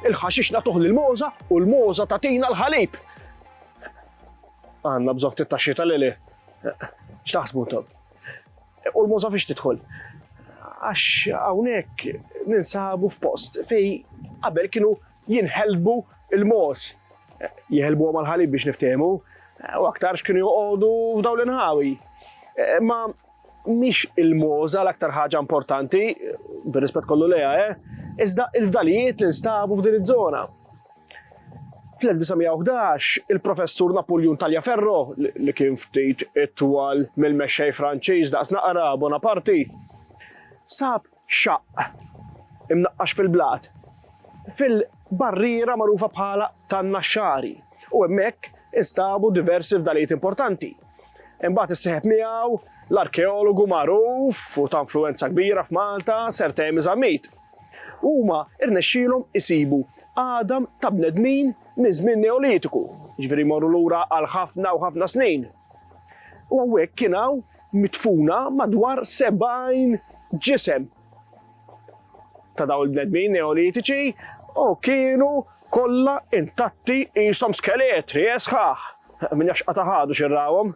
Il-ħaxix nagħtuh lill-mogħża u l-mogħża tagħtina l-ħalib. Għandna bżonn ftit taxxi tal-lili. X'taħsbu intom? U l-mogħża fiex tidħol? Għax hawnhekk ninsabu f'post fej qabel kienu jinħelbu il-mos. Jħelbu għamal ħalib biex niftehmu, u aktarx kienu joqogħdu f'daw l-inħawi. Ma mhix il-moża l-aktar ħaġa importanti, bir-rispett kollu lejha, eh? iżda il-fdalijiet li nstabu f'din iż-żona. Fl-1911, il-professur Napoleon Taliaferro, li kien ftit itwal mill-mexxej Franċiż daqs naqra Bonaparti, sab xaqq imnaqqax fil-blat fil-barriera magħrufa bħala tan-Naxxari u hemmhekk instabu diversi fdalijiet importanti. Imbagħad issieħeb miegħu l-arkeologu magħruf u ta' influwenza kbira f'Malta Sir Temi Zammit. Huma rnexxielhom isibu għadam ta' bnedmin minn żmien Neolitiku, jiġifieri jmorru lura għal ħafna u ħafna snin. U hawnhekk kien hawn midfuna madwar 70 ġisem ta' dawn il-bnedmin neolitiċi u kienu kollha intatti qishom skeletri esħaħ. Min jafx qata' ħadu xirrawhom.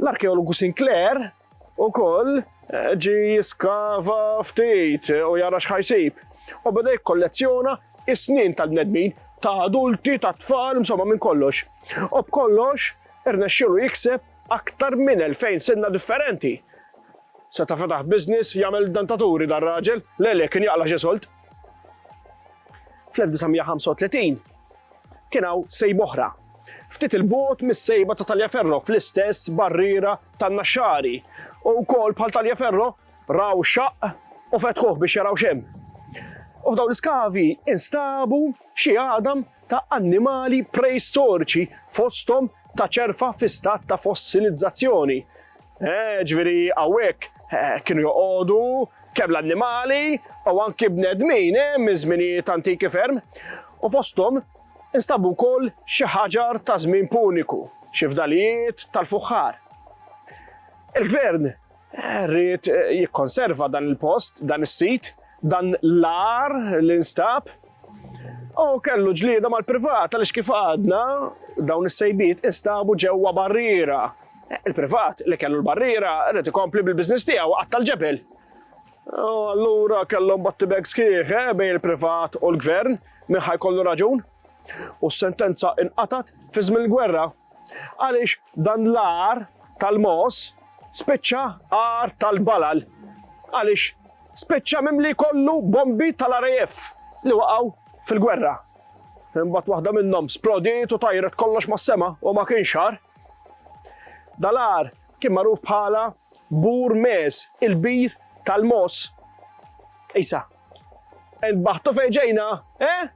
L-arkeologu Sinclair ukoll eh, ġi jiskava ftit u jara x'ħajsib u beda jikkollezzjona is-snin tal-bnedmin ta' adulti, ta' tfal, insomma minn kollox. U b'kollox irnexxielu jikseb Aktar minn elfejn sinna differenti. Seta' fetaħ business jagħmel dentaturi dan raġel, le le kien jaqla' xi sold. Fl-1935 kien hawn sejba oħra, ftit 'il bogħod mis-sejba ta' Taliaferro fl-istess barriera tan-Naxxari u wkoll bħal Taliaferro raw xaqq u fetħuh biex jaraw x'hemm. U f'dawn l-iskavi instabu xi għadam ta' annimali preistoriċi, fosthom ta' ċerfa fi stat ta' fossilizzazzjoni. Eh, ġifieri hawnhekk eh, kienu joqogħdu kemm l-annimali u anki bnedmin eh, minn żminijiet antiki ferm. U fosthom instabu wkoll xi ħaġar ta' żmien puniku, xi fdalijiet tal-fuħħar. Il-gvern Rrid jikkonserva dan il-post, dan is-sit, dan l-ar li nstab. U kellu ġlieda mal-privat għaliex kif għadna dawn is-sejbiet instabu ġewwa barriera. Il-privat li kellu l-barriera rrid ikompli bil-biżness tiegħu qatta l-ġebel. Allura kellhom botti bag sħiħ eh, bejn il-privat u l-gvern, minn ħajkollu raġun. u s-sentenza inqatgħet fi żmien il-gwerra għaliex dan l-għar tal-mogħoż spiċċa għar tal-balal għaliex spiċċa mimli kollu bombi tal-RAF li waqgħu fil-gwerra. Imbagħad waħda minnhom splodiet u tajret kollox mas-sema u ma kienx xar. Dalar kien magħruf bħala bur mes il-bir tal-mos. Isa, Inbaħtu fejn ġejna, eh?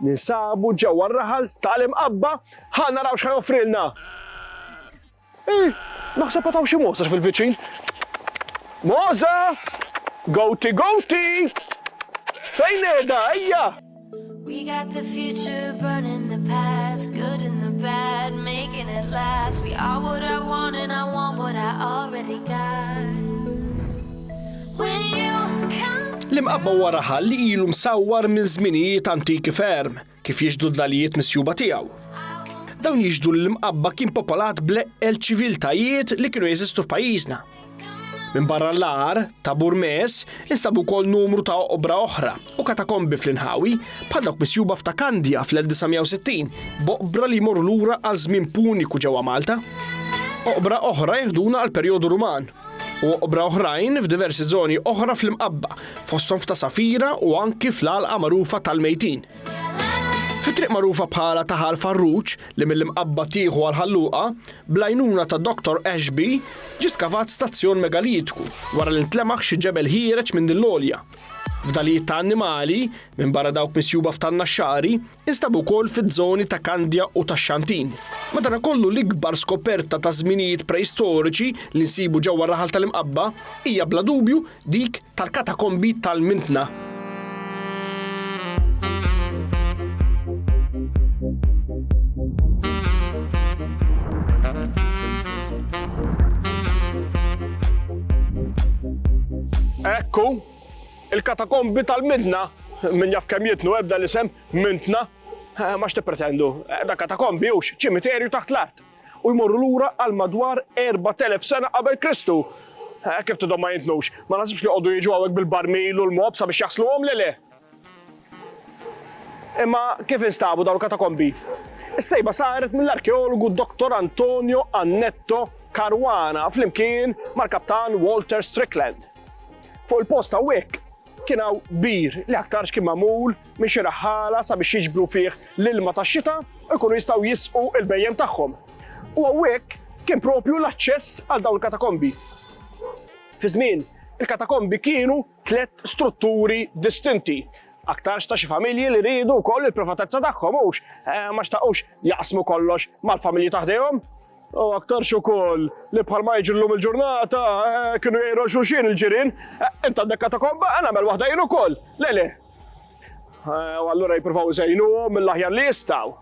Ninsabu ġewwa r-raħal ta' l-imqabba, ħa naraw x'ħa joffrilna. Eh, naħseb għataw xi moża fil-viċin. Moża! Goti goti! Fejn qiegħda, ejja! We got the future burning the past, good and the bad, making it last. We are what I want and I want what I already got. When you come L-imqabba wara ħal li ilu msawwar minn żminijiet antiki ferm kif jiġdu d-dalijiet misjuba tiegħu. Dawn jiġdu l-imqabba kien popolat bleqqel ċiviltajiet li kienu jeżistu f'pajjiżna. Minbarra l-agħar ta' Burmes instabu wkoll numru ta' oqbra oħra u katakombi fl-inħawi bħal dawk misjuba f'ta' Kandja fl-1960 b'oqbra li jmorru lura għal żmien puniku ġewwa Malta. Oqbra oħra jeħduna għal perjodu Ruman u oqbra oħrajn f'diversi żoni oħra fl-imqabba fosthom f'ta' Safira u anki fl-għalqa magħrufa tal-Mejtin. Fit-triq magħrufa bħala Taħal Farruġ li mill-Imqabba tieħu għal Ħal Luqa, bl-għajnuna ta' Doctor Ashby, ġie skavat stazzjon megalitiku wara li ntlemaħ xi ġebel ħiereġ minn din l-għolja. Fdalijiet ta' annimali, minbarra dawk misjuba f'Tannaxxari, instabu wkoll fiż-żoni ta' Kandja u tax-Xantin. Madanakollu l-ikbar skoperta ta' żminijiet preistoriċi li nsibu ġewwa r-raħal tal-Imqabba hija bla dubju Dik tal-katakombi tal-Mintna. Ekku, il-katakombi tal-midna, minn jaf kem jitnu ebda l-isem, mintna, eh, ma pretendu, eh, da katakombi ux, ċimiterju taħt l-art. u jmorru lura għal madwar 4,000 sena qabel Kristu. Eh, kif tidhom ma jintnux, ma nasibx li jqogħdu jiġu hawnhekk bil-barmil u l-mob sabiex jasluhom le le. Imma kif instabu dawn il-katakombi? Is-sejba saret mill-arkeologu Dr. Antonio Annetto Caruana flimkien mal-kaptan Walter Strickland. Fuq il-post hawnhekk Kien hawn bir li aktarx kien magħmul minn xi raħħala sabiex jiġbru fih l-ilma tax-xita u jkunu jistgħu jisqu l-bhejjem tagħhom. U hawnhekk kien propju l-aċċess għal dawn il-katakombi. Fi żmien, il-katakombi kienu tliet strutturi distinti. Aktarx ta' xi familji li rridu wkoll il-privatezza tagħhom hux eh, ma xtaqux jaqsmu kollox mal-familji taħdejhom. U aktarx ukoll li bħal ma jiġu llum il-ġurnata eh, kienu jgħidu xulxin il-ġirien, eh, inta għandek katakomba, għana mel waħda jien ukoll. Le le. Eh, u allura jippruvaw iżejnu mill-aħjar li jistgħu.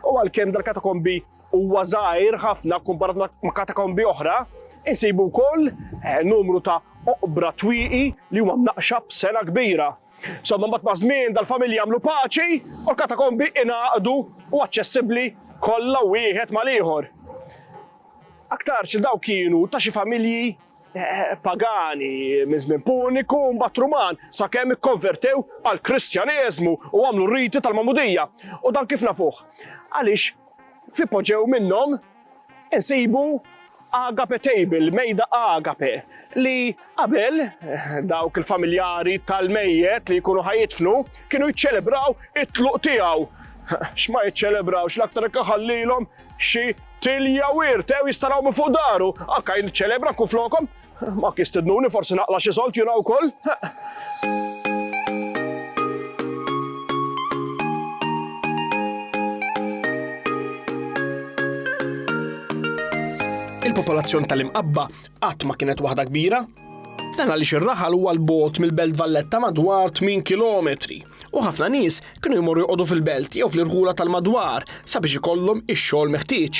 U għalkemm dal-katakombi huwa żgħir ħafna kumparat ma' katakombi oħra, insibu wkoll numru ta' oqbra twiqi li huma mnaqxa b'sena kbira. Somma mbagħad maż-żmien dal-familji għamlu paċi u l-katakombi ingħaqdu u aċċessibbli kollha wieħed mal-ieħor. Aktarx il daw kienu ta' xi familji eh, pagani minn żmien puniku mbagħad Ruman sakemm ikkonvertew għal Kristjaneżmu u għamlu riti tal-Mamudija. U dan kif nafuh? Għaliex fi poġew minnhom insibu agape table, mejda agape, li qabel dawk il-familjari tal-mejjet li jkunu ħajitfnu kienu jiċċelebraw it-tluq tiegħu. X'ma jiċċelebrawx l-aktar ħallilhom xi tilja wirt, ew jistaraw minn fuq daru, akka jiċċelebra kun flokom, Ma kistidnuni forsi naqla xi solt jiena wkoll. Il-popolazzjoni tal-imqabba qatt ma kienet waħda kbira, Dan għaliex ir-raħal huwa l-bot mill-Belt Valletta madwar 8 km u ħafna nies kienu jmorru jqogħdu fil-belt jew fl-irħula tal-madwar sabiex ikollhom ix-xogħol meħtieġ.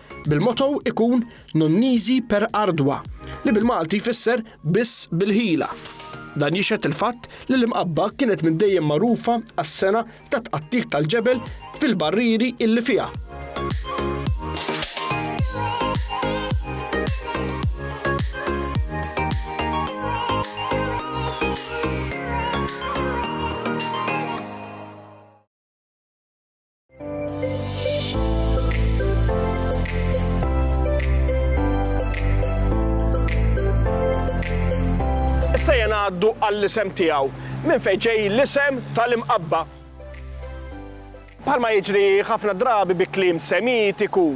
bil-motto ikun Non nisi per ardua, li bil-Malti jfisser biss bil-ħila. Dan jixhed il-fatt li l-Imqabba kienet minn dejjem magħrufa għas-sengħa tat-tqattigħ tal-ġebel fil-barrieri illi fiha. Issa jena għaddu għall-isem tiegħu minn fejn ġej l-isem tal-imqabba. Bħalma jiġri ħafna drabi bi kliem semitiku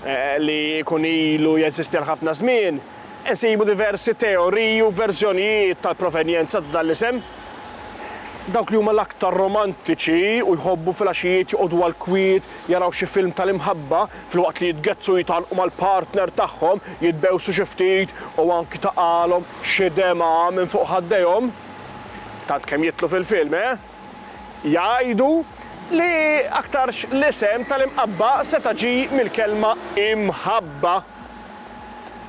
eh, li jkun ilu jeżisti għal ħafna żmien, insibu diversi teoriji u verżjonijiet tal-provenjenza ta' dan l-isem. Dawk li huma l-aktar romantiċi u jħobbu filgħaxijiet joqogħdu għall-kwiet jaraw xi film tal-imħabba filwaqt li jitgezzu u jitgħannqu mal-partner tagħhom, jitbewsu xi ftit u anki taqagħlhom xi demgħa minn fuq ħaddejhom, tant kemm jidħlu fil-film, eh? Jgħidu li aktarx l-isem tal-imqabba seta' ġie mill-kelma imħabba.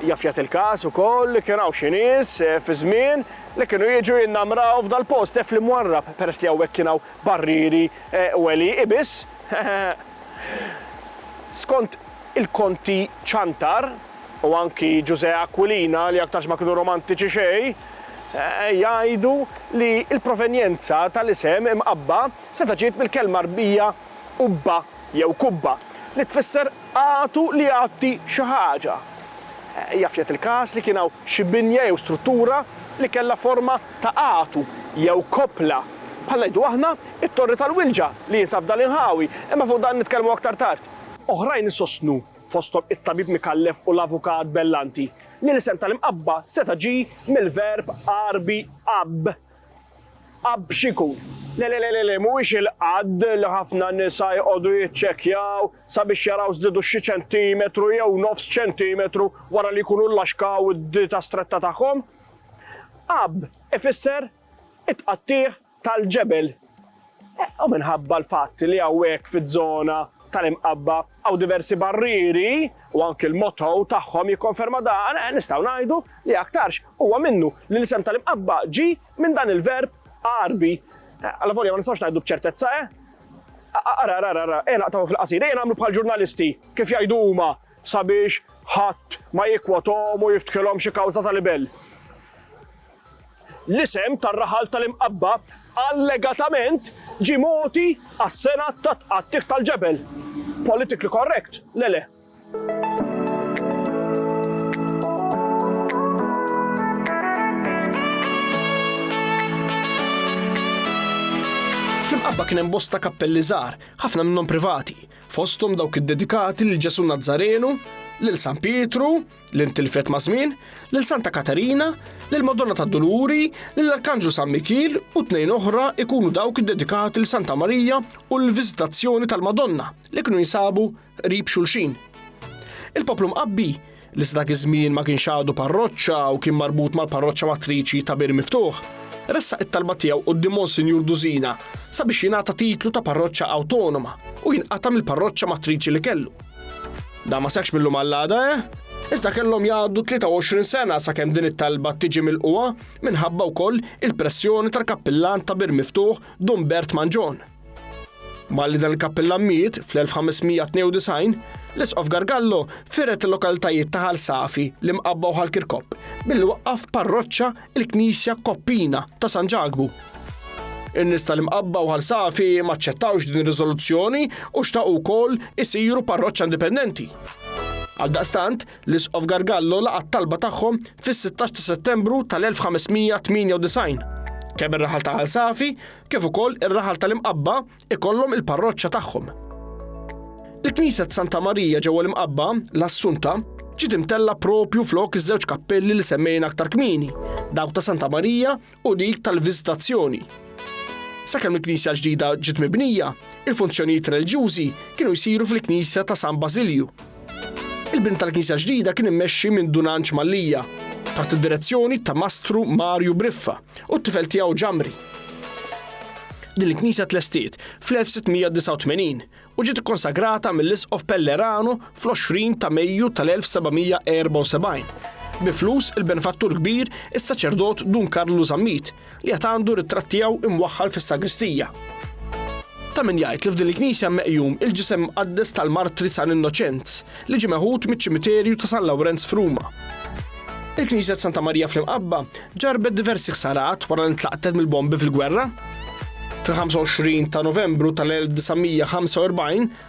Jaf jagħti l-każ ukoll li kien hawn xi nies fi żmien li kienu jiġu jinnamraw f'dal-post fl Imwarrab, peress li hawnhekk kien hawn barrieri u għelieqi biss. Skont il-Konti Ciantar, u anki Ġużè Aquilina li aktarx ma kienu romantiċi xejn, jgħidu li l-provenjenza tal-isem imqabba seta' ġiet mill-kelma Arbija qubba, jew kubba, li tfisser għatu li jgħatti xi ħaġa. Jaf jagħti l-każ li kien hawn xi binja jew struttura li kellha forma ta' għatu jew koppla, bħal ngħidu aħna t-Torri tal-Wilġa li jinsab f'dan l-inħawi, imma fuq dan nitkellmu aktar tard. Oħrajn isostnu, fosthom it-Tabib Micallef u l-Avukat Bellanti, li l-isem tal-Imqabba seta' ġie mill-verb Għarbi għabb, Qabb x'ikun? Le le le le mhuwiex il-qadd li ħafna nisa jqogħdu jiċċekkjaw sabiex jaraw żdiedu xi ċentimetru jew nofs ċentimetru wara li jkunu llaxkaw id-dieta stretta tagħhom. Qabb ifisser it-tqattigħ tal-ġebel. U minħabba l-fatt li hawnhekk fiż-żona tal-Imqabba hawn diversi barrieri u anki l-motto tagħhom jikkonferma dan, eh, nistgħu ngħidu li aktarx huwa minnu li l-isem tal-Imqabba ġie minn dan il-verb Għarbi. Eh, Allavolja ma nistgħux ngħidu b'ċertezza, eh? Ara, ara, ara, ara, ejna naqtaw fil-qasir, ejna nagħmlu bħal ġurnalisti, kif jgħidu huma sabiex ħadd ma jikwotom u jiftħilhom xi kawża ta' libell. L-isem tar-raħal tal-Imqabba allegatament ġie mogħti għas-sena ta' tqattigħ tal-ġebel. Politically correct? Le le. Fl-Imqabba kien hemm bosta kappelli żgħar, ħafna minnhom privati, fosthom dawk iddedikati lil Ġesù Nazzarenu, lil San Pietru, li ntilfet ma' żmien, lil Santa Katarina, lil Madonna tad-Duluri, lil Arkanġlu San Mikiel u tnejn oħra ikunu dawk iddedikati lil Santa Marija u l-Viżitazzjoni tal-Madonna li kienu jinsabu qrib xulxin. Il-poplu mqabbi li sa dak iż-żmien ma kienx għadu parroċċa u kien marbut mal-parroċċa matriċi ta' Bir Miftuħ, ressaq it-talba tiegħu quddiem Monsinjur Dużina sabiex jingħata titlu ta' parroċċa awtonoma u jinqata' mill-parroċċa matriċi li kellu. Da ma seħx mill-lum għall-għada, eh? Iżda kellhom jgħaddu 23 sena sakemm din it-talba tiġi mill-qwa minħabba wkoll il-pressjoni tal-kappillan ta' bir miftuħ Dumbert Manġon. Malli dan il-kappillan miet fl-1592, l-isqof Gargallo firet il-lokalitajiet ta' Ħal Safi li mqabbaw ħal Kirkop billi waqqaf parroċċa il-Knisja Koppina ta' San Ġakbu. In-nies tal-Imqabba u Ħal Safi maċċettawx din ir-riżoluzzjoni u xtaqu wkoll isiru parroċċa indipendenti. Għaldaqstant, l-Isqof Gargallo laqa' t-talba tagħhom fis-16 ta' Settembru tal-1598. Kemm ir-raħal ta' Ħal Safi kif ukoll ir-raħal tal-Imqabba ikollhom il-parroċċa tagħhom. Il-Knisja ta' Santa Marija ġewwa l-Imqabba, l-Assunta, ġiet imtella propju flok iż-żewġ kappelli li semmejna aktar kmieni, dawk ta' Santa Marija u dik tal-Viżitazzjoni. Sakemm il-Knisja ġdida ġiet mibnija, il-funzjonijiet reliġjużi kienu jsiru fil-Knisja ta' San Basilju. Il-bini tal-knisja ġdida kien immexxi minn Dun Anġ Mallia, taħt id-direzzjoni ta' Mastru Marju Briffa u t-tifel tiegħu Ġamri. Din il-knisja tlestiet fl-1689 u ġiet ikkonsagrata mill-Isqof Pellerano fl-20 ta' Mejju tal-1774 bi flus il-benfattur kbir is-saċerdot Dun Karlu Zammit li għad għandu ritratt tiegħu imwaħħal fis-sagristija. Ta' min jgħid li f'din il-knisja meqjum il-ġisem mqaddes tal-martri San Innoċenz li ġie meħud miċ-ċimiterju ta' San Lawrenz f'Ruma. Il-Knisja Santa Marija fl-Imqabba ġarbet diversi ħsarat wara li ntlaqtet mill-bombi fil-gwerra. Fil-25 ta' Novembru tal-1945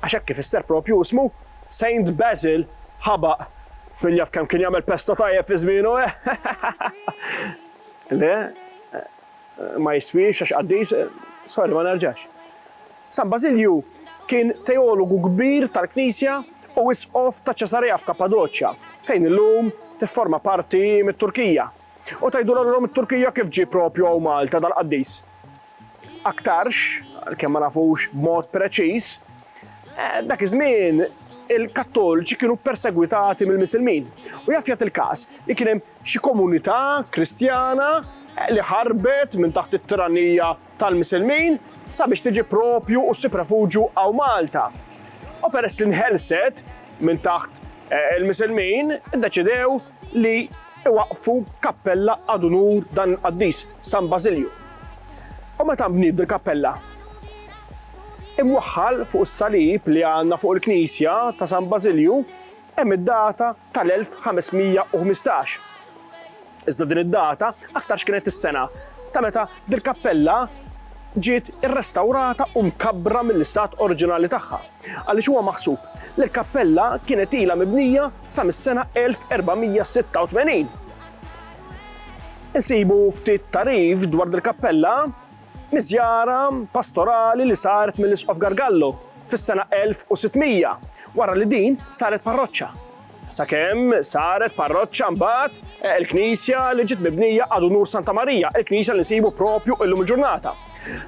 Għax hekk ifisser proprju ismu. Saint Basil ħabaq. Min jaf kemm kien jagħmel pesta tajjeb fi żmienu, eh? Le, ma jiswiex għax qaddis, sorry ma nerġax. San Basilju kien teologu kbir tal-Knisja u isqof ta' Ċesarea f'Kappadoċja, fejn illum tifforma parti mit-Turkija. U tgħidulha lilhom it-Turkija kif ġie proprju hawn Malta dal-qaddis? Aktarx, għalkemm ma nafux b'mod preċiż, dak iż-żmien il-Kattolċi kienu persegwitati mill-Misilmin u jaf jagħti l-każ li kien hemm xi komunità Kristjana li ħarbet minn taħt it-tiranija tal-Misilmin sabiex tiġi propju u ssib refuġju hawn Malta. U peress li nħelset minn taħt eh, il-Misilmin, iddeċidew li iwaqqfu kappella ad unur dan il-qaddis, San Bażilju. U meta nbniet dil-kappella? Imwaħħal fuq is-salib li għandna fuq il-knisja ta' San Bażilju hemm id-data tal-1515. Iżda din id-data aktarx kienet is-sena ta' meta dil-kappella ġiet irrestawrata u mkabbra mill-istat oriġinali tagħha. għaliex huwa maħsub li l-kappella kienet ilha mibnija sa mis-sena 1486. Insibu ftit tagħrif dwar dil-kappella miż-żjara pastorali li saret mill-Isqof Gargallo fis-sena 1600 wara li din saret parroċċa. Sakemm saret parroċċa mbagħad il-knisja li ġiet mibnija għadu nur Santa Marija, il-knisja li nsibu propju illum il-ġurnata.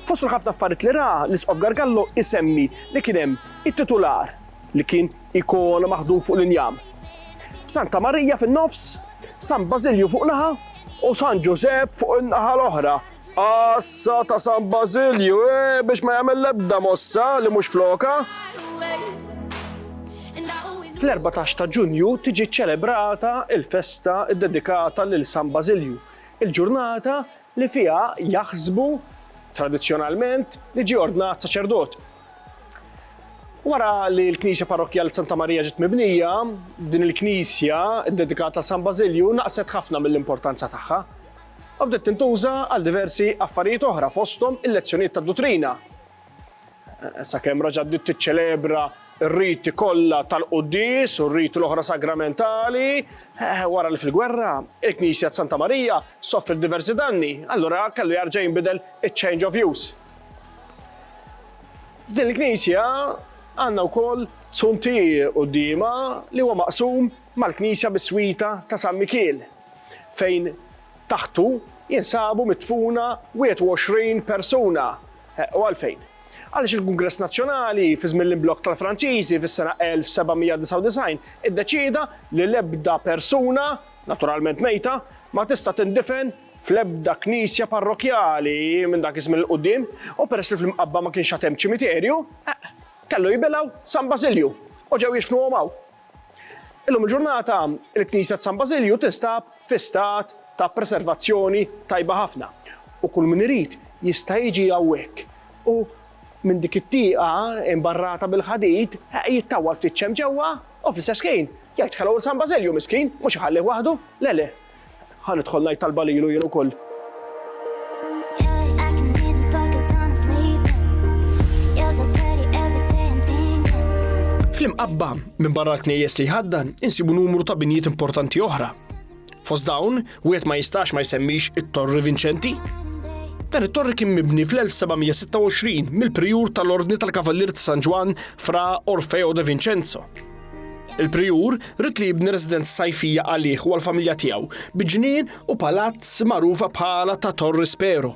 Fost il-ħafna affarijiet li ra, l-Isqof Gargallo isemmi li kien hemm it-titular li kien ikona maħdum fuq l-injam, b'Santa Marija fin-nofs, San Bażilju fuq naħa u San Ġużepp fuq in-naħa l-oħra Għassa ta' San Bażilju, eh, biex ma jagħmel l-ebda mossa li mhux flokha. Fl-14 ta' Ġunju tiġi ċċelebrata l-festa ddedikata lil San Bażilju, il-ġurnata li fiha jaħsbu tradizzjonalment li ġie ordnat saċerdot. Wara li l-Knisja Parrokkjali Santa Marija ġiet mibnija, din il-knisja ddedikata San Bażilju naqset ħafna mill-importanza tagħha. u bdiet tintuża għal diversi affarijiet oħra fosthom il-lezzjonijiet tad-duttrina, sakemm raġgħet bdiet tiċċelebra r-riti kollha tal-quddies u r-riti l-oħra sagramentali, wara li fil-gwerra il-Knisja t'Santa Marija sofriet diversi danni, allura kellu jerġa' jinbidel iċ-change of use. F'din il-Knisja għandna wkoll zuntier quddiemha li huwa maqsum mal-Knisja biswita ta' San Mikiel, fejn taħtu jinsabu midfuna 21 persuna. U għalfejn? Għaliex il-Kungress Nazzjonali, fi żmien l-imblokk tal-Franċiżi fis-sena 1799, iddeċieda li l-ebda persuna, naturalment mejta, ma tista' tindifen fl-ebda knisja parrokkjali minn dak iż-żmien 'l quddiem, u peress li fl-Imqabba ma kienx għad hemm ċimiterju, kellu jibilgħu San Basilju, u ġew jidfnuhom hawn. Illum il-ġurnata, il-Knisja t'San Bażilju tinstab fi stat ta' preservazzjoni tajba ħafna u kull min irid jista' jiġi hawnhekk u minn dik it-tieqa imbarrata bil-ħadid jittawwal ftit xemx ġewwa u fl-istess ħin jgħid ħellow 'l San Bażilju miskin, mhux iħallih waħdu, le le. Ħa nidħol ngħid talba lilu jien ukoll. Fl-imqabba minn barra l-knejjes li jħaddan insibu numru ta' binjiet importanti oħra. Fost dawn, wieħed ma jistax ma jsemmix it-Torri Vinċenti. Dan it-torri kien mibni fl-1726 mill-prijur tal-Ordni tal-Kavallier ta' San Ġwan fra Orfeo de Vincenzo. Il-prijur rid li jibni residenza sajfija għalih u għall-familja tiegħu bi ġnien u palazz magħrufa bħala ta' Torri Spero.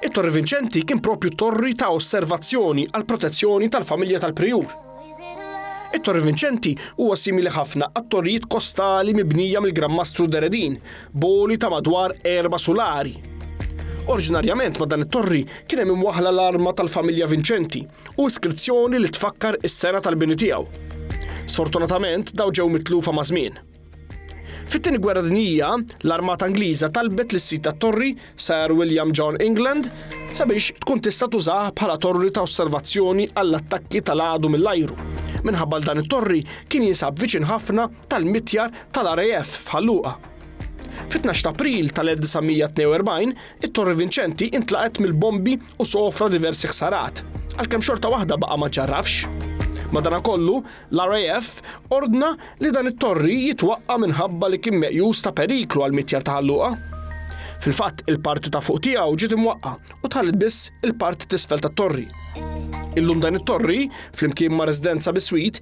It-Torri Vinċenti kien propju torri ta' osservazzjoni għal protezzjoni tal-familja tal-prijur. It-Torri Vinċenti huwa simili ħafna għat-torrijiet kostali mibnija mill-Gran Mastru Deredin, boli ta' madwar erba sulari. Oriġinarjament ma' dan it-torri kien hemm imwaħla l-arma tal-familja Vinċenti, u iskrizzjoni li tfakkar is-sena tal-bini tiegħu. Sfortunatament dawn ġew mitlufa maż-żmien. Fit-tieni gwerra dinjija, l-armata Ingliża talbet lis-sid tat-torri, Sir William John England, sabiex tkun tista' tużah bħala torri ta' osservazzjoni għall-attakki tal-għadu mill-ajru, minħabba l dan it-torri kien jinsab viċin ħafna tal-mitjar tal-RAF f'Ħal Luqa. Fit-12 t'April tal-1942, It-Torri Vinċenti intlaqgħet mill-bombi u sofra diversi ħsarat, għalkemm xorta waħda baqa' ma ġġarrafx. Madanakollu, l-RAF ordna li dan it-torri jitwaqqa' minħabba li kien meqjus ta' periklu għall-mitjar ta' Ħal Luqa. Fil-fatt, il-parti ta' fuq tiegħu ġiet imwaqqa' u tħalliet biss il-parti t'isfel tat-torri. Illum dan it-torri, flimkien ma' residenza biswit,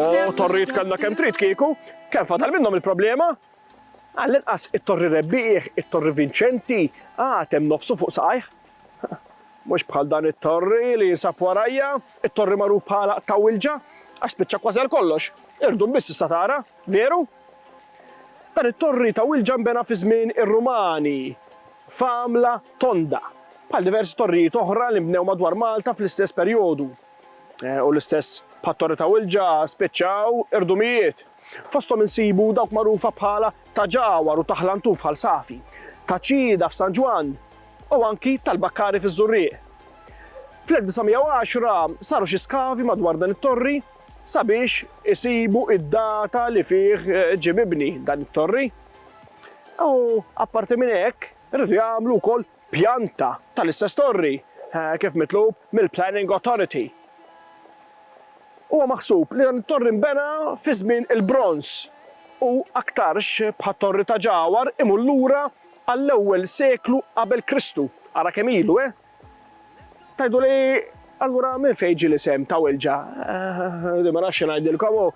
Oh, torrit kellna kemm trid kieku, kemm fadal minnhom il-problema? Għall-inqas it-torri rebbieħ, it-torri vinċenti, għad hemm nofsu fuq saqajh. Mhux bħal dan it-torri li jinsab warajja, it-torri magħruf bħala ta' wilġa, għax spiċċa kważi għal kollox. Irdum biss issa tara, veru? Dan it-torri ta' wilġa nbena fi żmien ir-Rumani, famla tonda, bħal diversi torrijiet oħra li nbnew madwar Malta fl-istess perjodu. U l-istess bħat-Torri ta' Wilġa spiċċaw irdumijiet. Fosthom insibu dawk magħrufa bħala Ta' Ġawar u Ta' Ħlantun f'Ħal Safi, Ta' Ċieda f'San Ġwann u anki tal-Bakkari fiż-Żurrieq. Fl-1910 saru xi skavi madwar dan it-torri sabiex isibu d-data li fih ġie mibni dan it-torri. U apparti minn hekk riedu jagħmlu wkoll pjanta tal-istess torri kif mitlub mill-Planning Authority. Huwa maħsub li dan it-torri nbena fi żmien il-Bronż u aktarx bħat-Torri ta' Ġawar imur lura għall-ewwel seklu qabel Kristu, ara kemm ilu, eh! Tgħiduli, Allura minn fejn ġie l-isem ta' Wilġa? Di ma nafx xi ngħidilkom hu.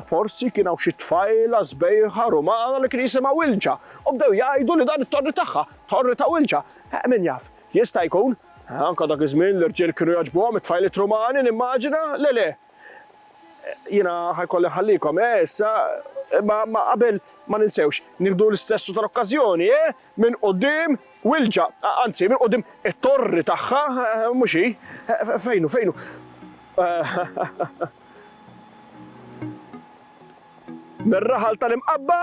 Forsi kien hawn xi tfajla sbejħa Rumana li kien jisimha Wilġa u bdew jgħidu li dan it-torri tagħha, Torri ta' Wilġa. Min jaf? Jista' jkun. Anke dak iż-żmien l-irġiel kienu jogħġbuhom it-tfajliet Rumani, nimmaġina, le le? Jiena ħa jkolli nħallikom, eh, issa, imma, imma qabel ma ninsewx, nieħdu l-istessu tal-okkażjoni, eh, minn quddiem Wilġa, anzi, minn quddiem it-torri tagħha, mhux hi? Fejn hu, fejn hu? Mir-raħal tal-Imqabba?